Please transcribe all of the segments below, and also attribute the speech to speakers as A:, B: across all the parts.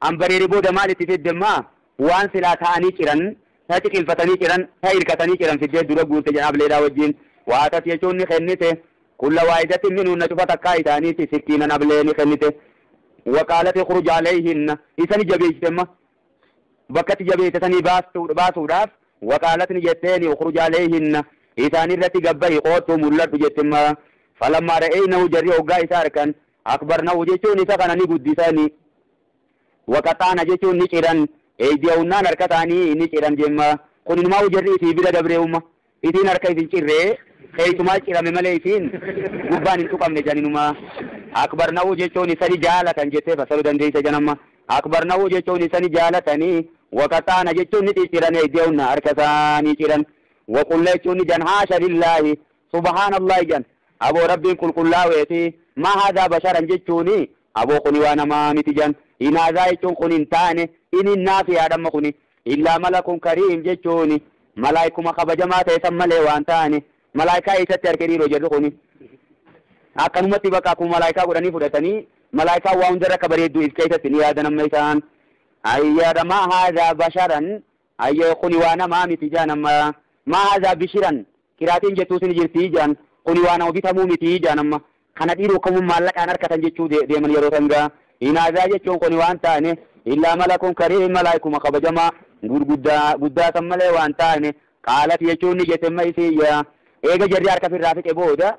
A: An bareere booda maal itti fidde mma? Waan silaa taa'anii ciran, ta ciqilfatanii ciran, ta irkatanii ciran fiddee dura guurte jedhan Ableedhaa wajjiin. Waa tas jechuun ni kennite. Kulla waahidatti min hunna cufa takkaa isaaniitti sikkiinan Ablee ni kennite. Wa qaalat ikhruj alayhinna. Isa ni jabeeysite mma. Bakka itti jabeeyte sanii baasuudhaaf wa qaalat ni jetteeni ukhruj alayhinna. Isaanirratti gad bahi, koottu, mul'adhu jetti mma. Falammaa ra'eynahu jarri hoggaa isa arkan. Akbarnahu jechuun isa kana ni guddisan, wa qaxa'na jechuun ni ciran, eydiyahunna harka isaanii ni ciran jemma, kun inumaa'uu jarri isii bira dabre'uuma, isiin harka isin cirre, keeysumaa cirame malee isiin gubbaan hin tuqamne jan inuma, akbarnahu jechuun isa ni jaalatan jettee fassaru dandeeysa jan amma, akbarnahu jechuun isa ni jaalatani, wa qaxa'na jechuun ni cicciran eydiyahunna harka isaanii ciran, wa qulna jechuun ni jan haasha lillaahi Subahaan Allahi jan aboo Rabbiin qulqullaaweefi maa haadhaa basharan jechuuni aboo kuni waa namaa miti jan inaazaa jechuun kuni hin taane inin naafiyaadha amma kuni illaa malakun kariim jechuuni malaaykuma kabajamaa ta'e san malee waan taane malaaykaa eessatti arke dhiiroo jarri kuni akkanumatti bakka akkuma malaaykaa godhanii fudhatanii malaaykaan waa hundarra akka bareedduu if keessatti ni yaadan amma isaan ayyaadha maa haadhaa basharan Ayyo kuni waa namaa miti jaan amma maa haza bishiran kiraatiin jettuus ni jirtii jaan kuni waa nama bitamuu mitii jaan amma kana dhiiri ukkamuun maallaqaan arkatan jechuu deeman yeroo san gaa hin haza jechuun kuni waan taane illaa malakun kariim malaaykuma kabajamaa gurguddaa guddaa san malee waan taane qaalati jechuun ni jette amma isiin yaa eega jarri harka firraa fixe booda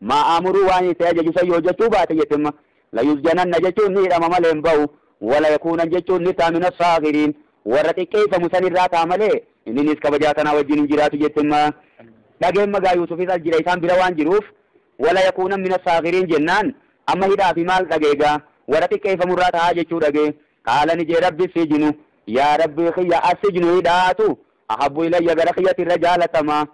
A: Maa aamuruu waan inni si ajaju san yoo jechuu baate jette ma layusjananna jechuun ni hidhama malee hin bahu wala yakuunan jechuun ni ta'a mina saaghiriin warra xiqqeeyfamu san irraa ta'a malee inni nis kabajaa tanaa wajjiin hin jiraatu jette ma dhageen magaa yuusufis as jira isaan bira waan jiruuf wala yakuunan mina saaghiriin jennaan amma hidhaa fi maal dhagee gaa warra xiqqeeyfamu irraa ta'aa jechuu dhagee qaala ni jee rabbi sijinu yaa rabbii kiyya assijnu hidhaatu ahabbu ilayya gara kiyyati irra jaalatamaa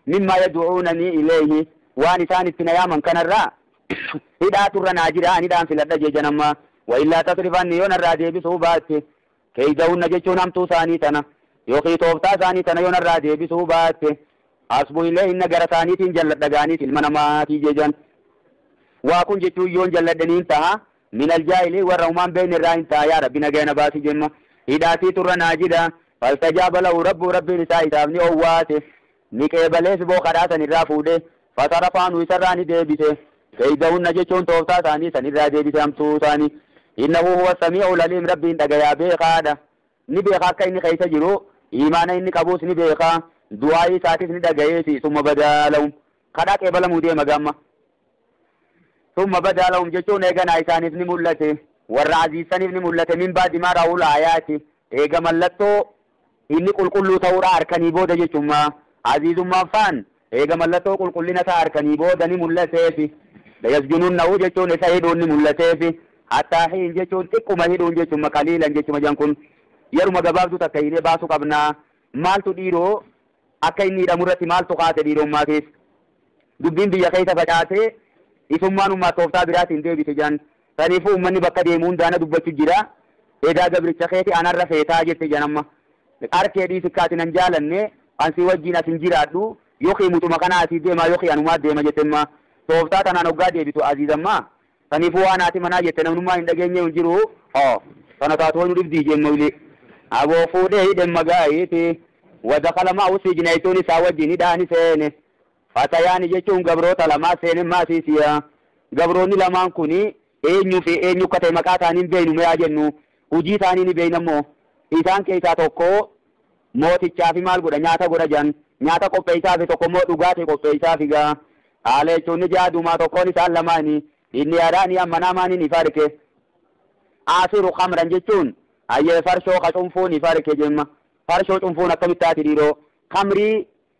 A: mimmaa yadu'uunanii ileeyhi waan isaan itti na yaaman kanarraa hidhaatu irra naa jira an hidhaan filadha jejan amma waillaa tasrif anni yoo narraa deebisuu baatte keeydahunna jechuun hamtuu isaanii tana yookii tooftaa isaanii tana yoo narraa deebisuu baatte asbu ileeyhinna gara isaaniitiin jalladha gaaniis ilma namaatii jejan waa kun jechuun yoon jalladhe niin taha Minal jaahiliin warra humaa hin beeyne irraa hin ta'a yaa Rabbi nagaya na baasi jemma hidhaatii turra naajida fastajaaba lahu Rabbuhu Rabbiin isaa isaaf ni owwaate ni qeebalee siboo kadhaa san irraa fuudhe fasarafa anhu isarraa ni deebise keeydahunna jechuun tooftaa isaanii san irraa deebise hamtuu isaanii innahu huwa samiicu laliim Rabbiin dhagayaa beekaadha ni beeka akka inni keeysa jiru iimaana inni qabuus ni beeka du'aayii isaatis ni dhagayeesi summa badaa lahum kadhaa qeebalamuu deema gamma Summa badaa lahum jechuun eeganaa isaaniif ni mul'ate, warra aziizsaniif ni mul'ate, min ba'di maa ra'awul aayaati, eega mallattoo inni qulqulluu ta'uudhaa arkanii booda jechumma, aziizummaan faan eega mallattoo qulqullina isaa arkanii booda ni mul'ateefi, layasjununnahu jechuun isa hidhuun ni mul'ateefi, hattaa hiin jechuun xiqquma hidhuun jechumma, qaliilan jechuma jan kun yeruma gabaabduu takka hiinee baasu qabnaa, maaltu dhiiroo. akka inni hidhamu irratti maaltu kaase dhiirommaa keessa? Dubbiin biyya keessa facaate isummaan ummaat tooftaa biraatiin deebite jedhan. Saniifuu ummanni bakka deemu hundaa na dubbachu jira. Edaa gabricha keeti anarra feetaa jette jedhan amma. Arkee dhiisi akka ati nan jaalanne an si wajjiin as hin jiraadhu yokii mucuma kanaa asii deemaa yokii anumaa deema jette amma. Tooftaa tanaan hoggaa deebitu Aziiz amma Saniifuu waan haati manaa jette namnummaa hin dhageenyee hin jiru. Haa. Tana taatu waynu dhibdii jeen Mawlii. Aboo fuudhee hidhe Magaayiiti. Wa dakhala ma'ahu sijna jechuun isaa wajjiin hidhaa ni seene. Fatayaani jechuun gabroota lamaa seene maasiisiya. Gabroonni lamaan kuni eenyu fi eenyu akka ta'e maqaa isaanii hin beeynu mee haa jennu. Hujii isaanii ni beeyna immoo. Isaan keeysaa tokko Mootichaafi maal godha? Nyaata godha jedhan. Nyaata qopheessaafi tokko immoo dhugaatii qopheessaafi gaa. Haala jechuun ni ja'a duumaa tokkoon isaan lamaanii inni yaadaanii amma naamaan hin ifarke. Aasiru kamran jechuun hayyee farshoo ka cunfuu ni farke jemma. Farshoo cunfuun akkamitti taati dhiiroo? Kamrii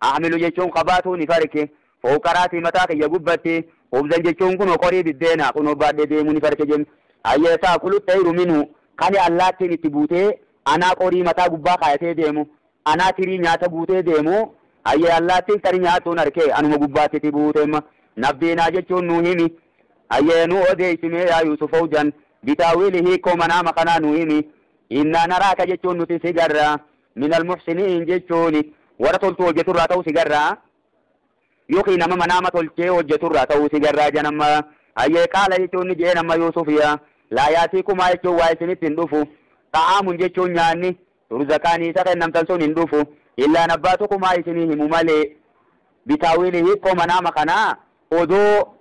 A: Ahmilu jechuun qabaatuu ni farke. Fowqa ra'sii mataa kiyya gubbatti. Khubzan jechuun kunoo qorii biddeenaa kunoo baadhee deemuu ni farke jedhe. Hayyee ta'kulu xayru minhu kani allaattiin itti buutee anaa qorii mataa gubbaa kaayatee deemu, anaa tirii nyaata guutee deemu, hayyee allaattiin tani nyaattuun arke anuma gubbaatti itti buute ma. Nabbiinaa jechuun nuu himi. Hayyee nuu odeessi mee yaa Yuusuf Fowjan, bitaawiili hiikkoo manaama kanaa nuu himi. Innaa naraaka jechuun nuti si garra. Minal muhsiniin jechuun warra toltuu hojjatu irraa ta'uu si garra yookiin nama manaama tolchee hojjatu irraa ta'uu si garra jedhan amma hayyee qaala jechuun ni je'een amma yuusufiya laa yaatiikumaa jechuun waa isinitti hin dhufu xa'aamun jechuun nyaanni turzaqaanii isa kennamtan sun hin dhufu illaa nabbaatukumaa isinii himu malee bitaawiili hiikkoo manaama kanaa odoo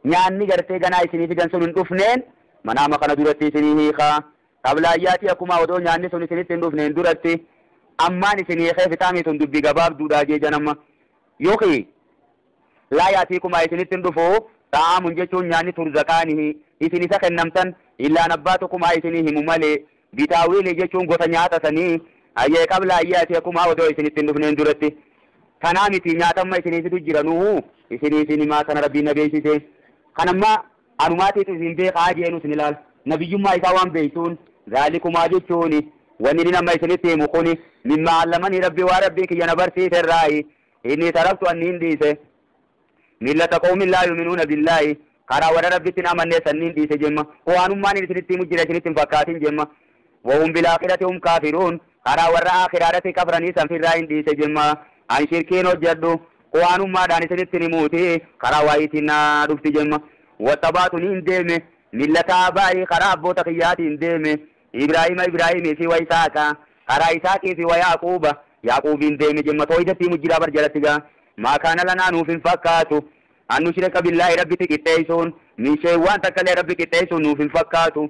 A: nyaanni gartee ganaa isinii fidan sun hin dhufneen manaama kana duratti isinii hiikaa Xablaayyaati akumaa odoo nyaanni sun isinitti hin dhufneen duratti ammaan isin hiikee fixaamii tun dubbi gabaabduudhaa jee janamma yokii Laa yaatiikumaa isinitti hin dhufuu xa'aamun jechuun nyaanni turzaqaanihii isin isa kennamtan illaan abbaa tokumaa isinii himu malee bitaawiilii jechuun gosa nyaata sanii hayyee xablaayyaati akumaa odoo isinitti hin dhufneen duratti tanaa mitii nyaata amma isinii fidu jiranuuhuu isinii isin himaa kana rabbiin na beeysisee kan ammaa Anumaatiif isin beekhaa jeenus ni laala. Nabiyyummaa isaa waan beektuun. Zaalikumaa jechuun wanni nin amma isinitti himu kuni mimmaa allamanii Rabbii waan Rabbiin kiyya na barsiise irraayi. Innii taraktu an niin dhiise. Millata qawmin laa yu'minuuna billaahi karaa warra Rabbitti hin amannee san niin dhiise jemma. Qur'aanummaa nin isinitti himu jira isinitti hin fakkaatin jemma. Wahum bilaakhirati hum kaafiruun Karaa warra aakhiraarratti kafranii san firraa hin dhiise jimma. An shirkiin hojjadhu, Qur'aanummaadhaan isinittin himuuti, karaa wahyiitiin na dhufti jimma. Wattaba'tu niin deeme, millata aabaa'i, karaa abboota kiyyaatiin deeme, Ibraahiima Ibraahiimii fi wa Isaaqa, karaa Isaaqii fi wa Ya'quuba, Ya'quubiin deeme jimma. Toohidatti himu jiraa bar jalatti gaa. Maa kaana lanaa nuuf hin fakkaatu, an nushrika billaahi Rabbitti qixxeeysuun, min shay'in waan takkallee Rabbi qixxeeysuun nuuf hin fakkaatu.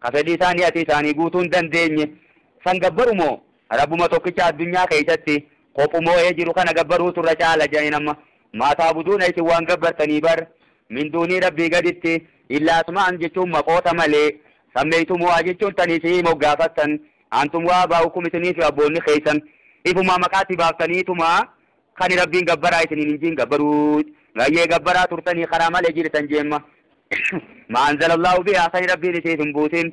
A: Ka fedhii isaanii ati isaanii guutuu hin dandeenye san gabbaru moo, Rabbuma tokkicha addunyaa keessatti kophumooyee jiru kana gabbaruutu irra caala je'aniin amma, Maa ta'buduuna isin waan gabbartanii bar, min duunii Rabbii gaditti, illaa asmaa'an jechuun maqoota malee, sammeeytumuuhaa jechuun tan isi'ii moggaafattan, antum wa aabaa'ukum isinii fi abboonni keessan, ifumaa maqaa itti baaftaniituma Kani rabbiin gabbaraa isiniin hin jiin gabbaruu bayyee gabbaraa turtanii karaa malee jirtan jeemma maa anzalallaahu bihaa kani rabbiin isiif hin buusin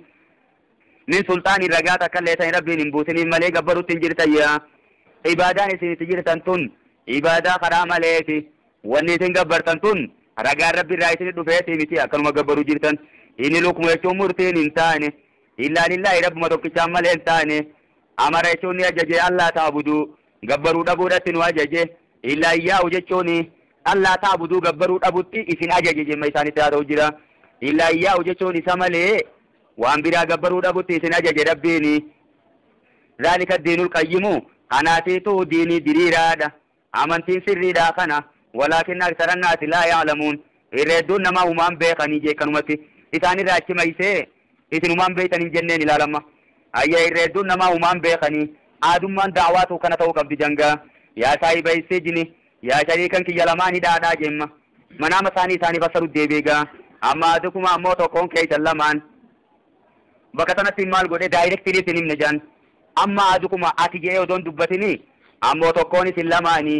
A: min sulxaaniin ragaa takkallee tani rabbiin hin buusiniif malee gabbarutti hin jirtan yaa ibaadaan isin itti jirtan tun ibaadaa karaa maleeti wanni isin gabbartan tun ragaan rabbi irraa isin dhufeetii miti akkanuma gabbaruu jirtan inni lukmu jechuun murtiin hin taane illaa lillaahi rabbuma tokkichaan malee hin taane amara jechuun ni ajaje allaa taabuduu gabbaruu dhabuudhatti nu ajaje, illaa iyyaa'u jechuun Allaa ta'buduu gabbaruu dhabutti isin ajaje jimma isaanitti haasa'u jira. Illaa iyyaa'u jechuun isa malee waan biraa gabbaruu dhabutti isin ajaje Rabbiin. Zaalika addiinul qayyimu kanaatiitu diinii diriiraadha, amantiin sirriidhaa kana, walaakinna aksara annaasi laa ya'lamuun, irra hedduun namaa humaa hin beekanii jee kanumatti isaan irraa achi maysee Isin humaan beeytan hin jenneen ilaal amma. Hayyee irra hedduun namaa humaan beekanii. Aadummaan da'waa tuu kana ta'uu qabdi jangaa. Yaa saahibay sijni, yaa shariikan kiyya lamaan hidhaadhaa jeemma. Manaama isaanii isaanii fassaru deebi egaa. Amma aadukuma ammoo tokkoon keeysan lamaan. Bakka sanatti maal godhe directly isin himne jaan. Amma aadukuma ati je'ee odoo hin dubbatinii ammoo tokkoon isin lamaanii.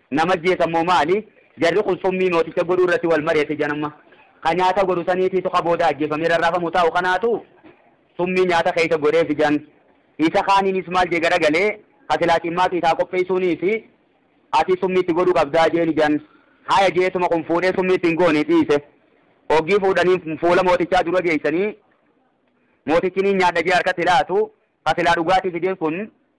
A: Nama ajjeesa mo maali? Jarri kun summii mooticha godhuu irratti wal mari'ate ija nama ka nyaata godhu saniitiitu ka booda ajjeefamee rarraafamu taa'u kanaatu summii nyaata keessa godheef ijan isa kaaniinis maal jee garagalee ka silaa cimmaaqi isaa qopheessuuniifi ati summii itti godhuu qabdaa jeen ijan haya jeetuma kun fuudhee summii itti hin goone dhiise oggii fuudhanii fuula mootichaa dura geessanii mootichi niin nyaadha jee harkatti laatu ka silaa dhugaatii fideef kun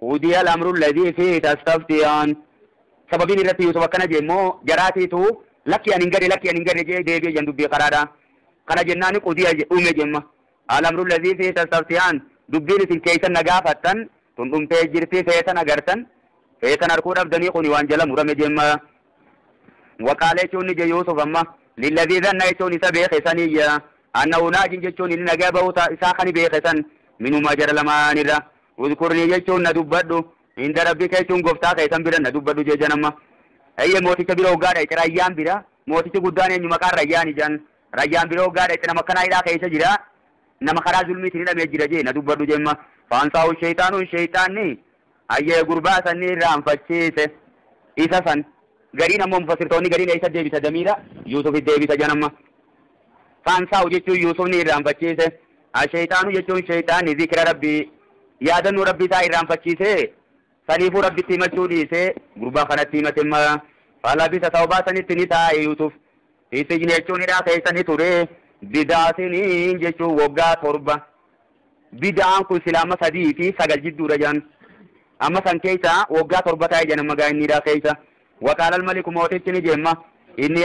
A: Qudiya al-amru alladhii fiihi tastaftiyaan Sababiin irratti Yuusuf akkana je'e immoo jaraatiitu Lakki ani hin gale lakki ani hin gale je'ee deebi'e je'an dubbii karaadha. Kana jennaani qudiya je, dhume je'mma. Al-amru alladhii fiihi tastaftiyaan Dubbiin isin keeysan na gaafattan tun dhumtee jirti feetan agartan feetan arkuu dhabdanii kuni waan jala murame je'mma. Wa qaala jechuun ni je Yuusuf amma lilladhii dhanna jechuun isa beeke saniyya annahu naajin jechuun inni nagaa bahuu ta, isaa kani beeke san minumaa jara lamaanirra. Uzkurnii jechuun na dubbadhu, inda Rabbika jechuun Goftaa kee san bira na dubbadhu jejan amma. Eeyyee mooticha bira hoggaa dhayxe Rayyaan bira, mootichi guddaan eenyu maqaan Rayyaani jan. Rayyaan bira hoggaa dhayxe nama akkanaa hidhaa keessa jira, nama karaa zulmiitiin hidhamee jira je na dubbadhu jemma. Fa'ansaahu sheyxaanu sheyxaanni hayyee gurbaa san ni irraanfachiise. Isa san. Gariin ammoo mufassirtoonni gariin eessa deebisa damiira Yuusufit deebisa jan amma. Faansaa'u jechuun Yuusuf ni irraanfachiise. Asheyxaanu jechuun sheyxaanni zikira Rabbii, yaadannoo Rabbii isaa irraanfachiisee, saniifuu Rabbitti himachuu dhiisee gurbaa kanatti himatemma. Falabisa sawbaa sanitti ni taa'e Yuusuf. Fi sijni jechuun hidhaa keessa ni ture. Bid'a siniin jechuun woggaa torba. Bid'aan kun silaa amma sadii fi sagal jidduudha jedhan. Amma san keessa woggaa torba taa'e jedhan amma gaa inni hidhaa keessa. Waqaalal maliku mootichi ni jemma. Inni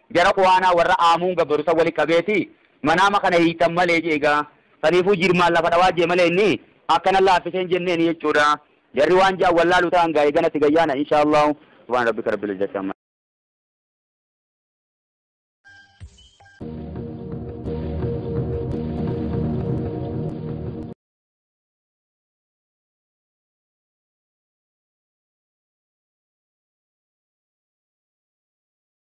A: Jara kuhaanaa warra aamuun gabbaru san wali qabeeti, Manaama kana hiiktan malee je'e gaa. Saniifuu jirmaan lafa dhawaa je'e malee inni, akka nan laaffise hin jenneeni jechuudha. Jarri waan je'an wallaalu tahan gaa eegana itti gayyaana inshaa Allaahu. Subhaana Rabbika Rabbil Izzati Ammaa.